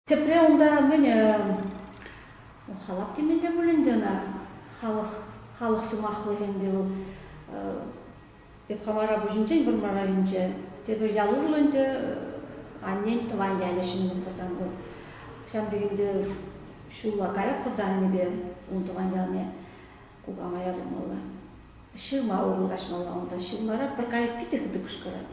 Тепре унта мӗн халап темелле пуль ӗнтӗ ӑна халӑх халӑх сӑмахлӑхӗ ӗнтӗ вӑл эп Хамара пуҫӗнчен Вӑрмар районӗнче тепӗр ял урлӑ ӗнтӗ аннен тӑван ялӗ ҫӗннӗ тӑрсан вӑл ҫав текенде ҫулла каятпӑр аннепе ун тӑван ялне кукама ятӑмалла ҫырма урлӑ каҫмалла унта ҫырмара пӗр кайӑк питӗ хытӑ кӑшкӑрать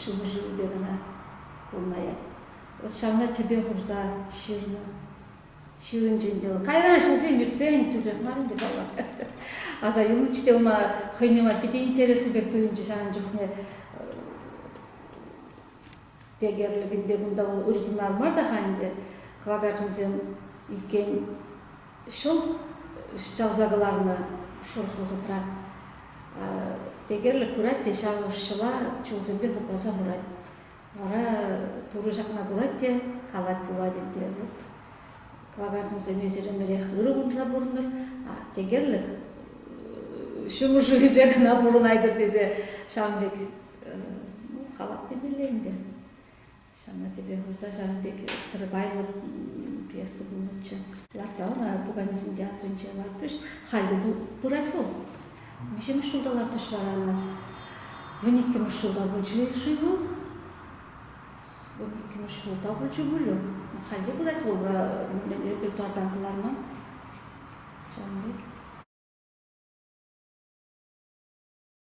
ҫулҫӑллипе кӑна курӑнаять. Вӑт ҫавна тӗпе хурса ҫырнӑ. Ҫырӑнчӗ ӗнтӗ вӑл. Кайран ҫынсем иртсен тӳрех мар ӗнтӗ паллах. Аса юлнӑччӗ те ӑна хӑйне май питӗ интереслӗ пек туйӑнчӗ ҫавӑн чухне. Декерлӗкӗн те кунта ырсӑнар мар та-ха ӗнтӗ кӑвакарчӑнсем иккен. Ҫул ҫӑлса кӑларнӑ шурх вӑхӑтра декерлӗк курать те ҫав ӑшҫӑла чулсемпе хупласа хурать. Вара Турӑ ҫакна курать те калать пулать ӗнтӗ, вот кӑвакарчӑнсем эсир ӗмӗрех ырӑ кунтла пурӑнӑр, декерлӗк ҫумӑр шывӗпе кӑна пурӑнайтӑр тесе ҫавӑн пек ну, халап темелле ӗнтӗ. Ҫавна тӗпе хурса ҫавӑн пек пӗр вайлӑ пьеса пулнӑччӗ. Лартса ӑна пуканесен театрӗнче лартрӗҫ. Халь те пырать вӑл. Виҫҫӗмӗш ҫулта лартӗҫ вара ӑна. Вун иккӗмӗш ҫулта пулчӗ-ши вӑл? Вун иккӗмӗш ҫулта пулчӗ пулӗ. Халь те пырать вӑл, репертуартан кӑларман. Ҫавӑн пек.